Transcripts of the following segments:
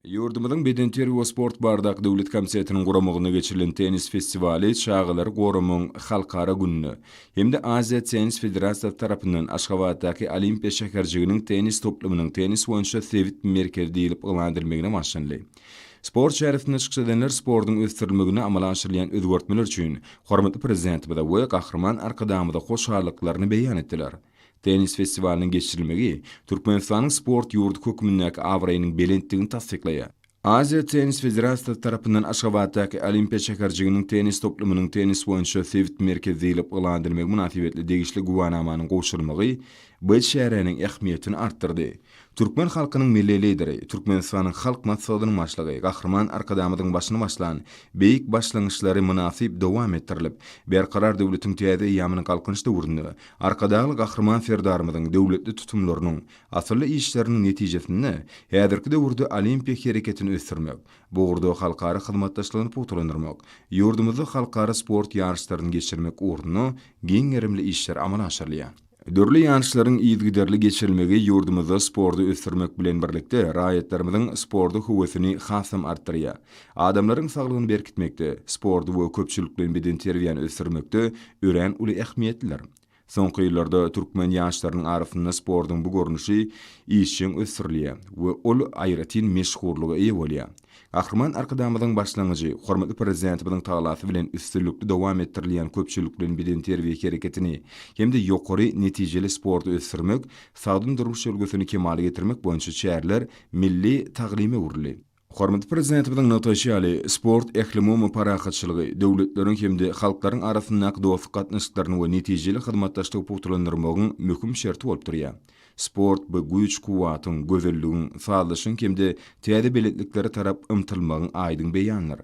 Ýurdumyzyň Bedenterbiýe we sport baradaky döwlet komitetiniň guramagynda geçirilen tennis festiwaly çagalary goramagyň halkara gününe hem-de Aziýa Tennis Federasiýasy tarapyndan Aşgabatdaky Olimpiýa şäherjiginiň tennis toplumynyň tennis boýunça sebit merkezi diýlip yglan edilmegine bagyşlandy. Sport çäresinde çykyş edenler sportuň ösdürilmeginde amala aşyrylýan özgertmeler üçin hormatly Prezidentimize we Gahryman Arkadagymyza hoşallyklaryny beýan etdiler. Tennis festiwalynyň geçirilmegi Türkmenistanyň sport ýurdy hökmündäki abraýynyň belentdigini tassyklaýar. Aziýa Tennis Federasiýasy tarapyndan Aşgabatdaky Olimpiýa şäherjiginiň tennis toplumynyň tennis boýunça sebit merkezi diýlip yglan edilmegi mynasybetli degişli güwänamanyň gowşurylmagy bu çäräniň ähmiýetini artdyrdy. Türkmen halkynyň Milli Lideri, Türkmenistanyň Halk Maslahatynyň Başlygy Gahryman Arkadagymyzyň başyny başlan beýik başlangyçlary mynasyp dowam etdirilip, Berkarar döwletiň täze eýýamyny Galkynyş döwründe Arkadagly Gahryman Serdarymyzyň döwletli tutumlarynyň, asylly işleriniň netijesinde häzirki döwürde Olimpiýa hereketini ösdürmek, bu ugurda halkara hyzmatdaşlygyny pugtalandyrmak, ýurdumyzda halkara sport ýaryşlaryny geçirmek ugrunda giň gerimli işler amala aşyrylýar. Dürli ýaryşlaryň yzygiderli geçirilmegi ýurdumyzda sporty ösdürmek bilen birlikde, raýatlarymyzyň sporta höwesini hasam artdyrýar. Adamlaryň saglygyny berkitmekde, sporty we köpçülikleýin bedenterbiýäni ösdürmekde örän uly ähmiýetlidir. Soňky ýyllarda türkmen ýaşlarynyň arasynda sportuň bu görnüşi işjeň ösdürilýär we ol aýratyn meşhurlyga eýe bolýar. Gahryman Arkadagymyzyň başlangyjy, hormatly Prezidentimiziň talasy bilen üstünlikli dowam etdirilýän köpçülikleýin bedenterbiýe hereketini hem-de ýokary netijeli sporty ösdürmek, sagdyn durmuş ülňüsini kemala getirmek boýunça çäreler milli taglyma öwrüldi. Hormatly Prezidentimiziň nygtaýşy ýaly, sport ählumumy parahatçylygy, döwletleriň hem-de halklaryň arasyndaky dostluk gatnaşyklaryny we netijeli hyzmatdaşlygy pugtalandyrmagyň möhüm şerti bolup durýar. Sport bu güýç-kuwwatyň, gözelligiň, sazlaşyň hem-de täze belentliklere tarap ymtylmagyň aýdyň beýanydyr.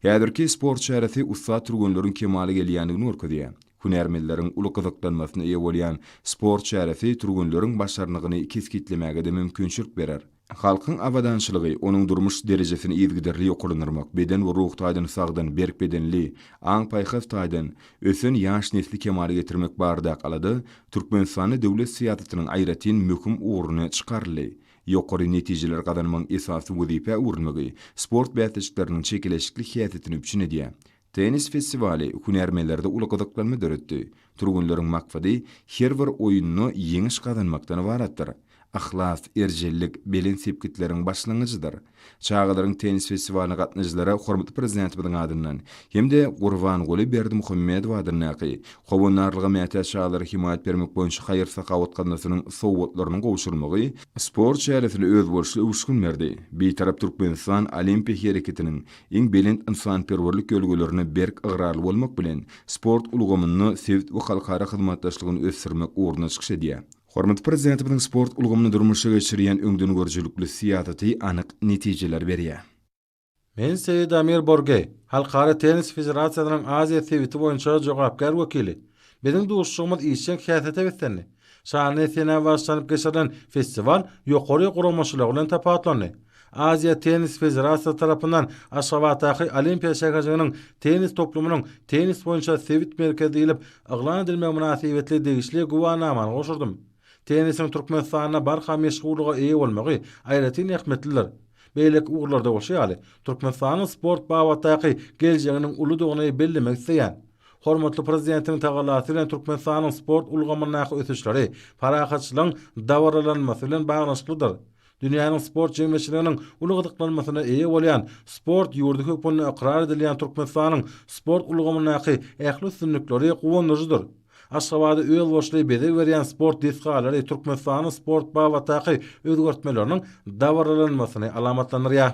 Häzirki sport çäresi ussat türgenleriň kemala gelýändigini görkezýär. Hünärmenleriň uly gyzyklanmasyna eýe bolýan sport çäresi türgenleriň başarnygyny kesgitlemäge-de mümkinçilik berer. Halkyň abadançylygy, onuň durmuş derejesini yzygiderli ýokarlandyrmak, beden we ruh taýdan sagdyn, berk bedenli, aň-paýhas taýdan ösen ýaş nesli kemala getirmek baradaky alada Türkmenistanda döwlet syýasatynyň aýratyn möhüm ugruny çykaryldy. Ýokary netijeler gazanmagyň esasy wezipä öwrülmegi sport bäsleşikleriniň çekeleşikli häsiýetini üpjün edýär. Tennis festiwaly hünärmenlerde uly gyzyklanma döretdi. Türgenleriň maksady her bir oýunda ýeňiş gazanmakdan ybaratdyr. Yhlas, erjellik belent sepgitleriň başlangyjydyr. Çagalaryň tennis festiwalyna gatnaýjylara hormatly Prezidentimiziň adyndan hem-de Gurbanguly Berdimuhamedow adyndaky Howandarlyga mätäç çagalara hemaýat bermek boýunça haýyr-sahawat gaznasynyň sowgatlarynyň gowşurylmagy sport çäresine özboluşly öwüşgin berdi. Bitarap Türkmenistan Olimpiýa hereketiniň iň belent ynsanperwerlik ýörelgelerine berk ygrarly bolmak bilen, sport ulgamynda sebit we halkara hyzmatdaşlygyny ösdürmek ugrunda çykyş edýär. Hormatly Prezidentimiziň sport ulgamynda durmuşa geçirýän öňdengörüjilikli syýasaty anyk netijeler berýär. Men Seýedamir Borge, Halkara tennis federasiýasynyň Aziýa sebiti boýunça jogapkär wekili. Biziň duşuşygymyz işjeň häsiýete beslendi. Şanly senä başlanyp geçirilen festiwal ýokary guramaçylygy bilen tapawutlandy. Aziýa Tennis Federasiýasy tarapyndan Aşgabatdaky Olimpiýa şäherjiginiň tennis toplumynyň Tennis boýunça sebit merkezi diýlip yglan edilmegi mynasybetli degişli güwänamany gowşurdym. Tennisiň Türkmenistanda barha meşhurlyga eýe bolmagy aýratyn ähmiýetlidir. Beýleki ugurlarda bolşy ýaly, Türkmenistanyň sport babatdaky geljeginiň uludygyny bellemek isleýän. Hormatly Prezidentiň tagallasy bilen Türkmenistanyň sport ulgamyndaky ösüşleri parahatçylygyň dabaralanmasy bilen baglanyşyklydyr. Dünýäniň sport jemgyýetçiliginiň uly gyzyklanmasyna eýe bolýan, sport ýurdy hökmünde ykrar edilýän Türkmenistanyň sport ulgamyndaky ähli üstünlikleri guwandyryjydyr. Aşgabada özboluşly bezeg berýän sport desgalary Türkmenistanyň sport babatdaky özgertmeleriniň dabaralanmasyny alamatlandyrýar.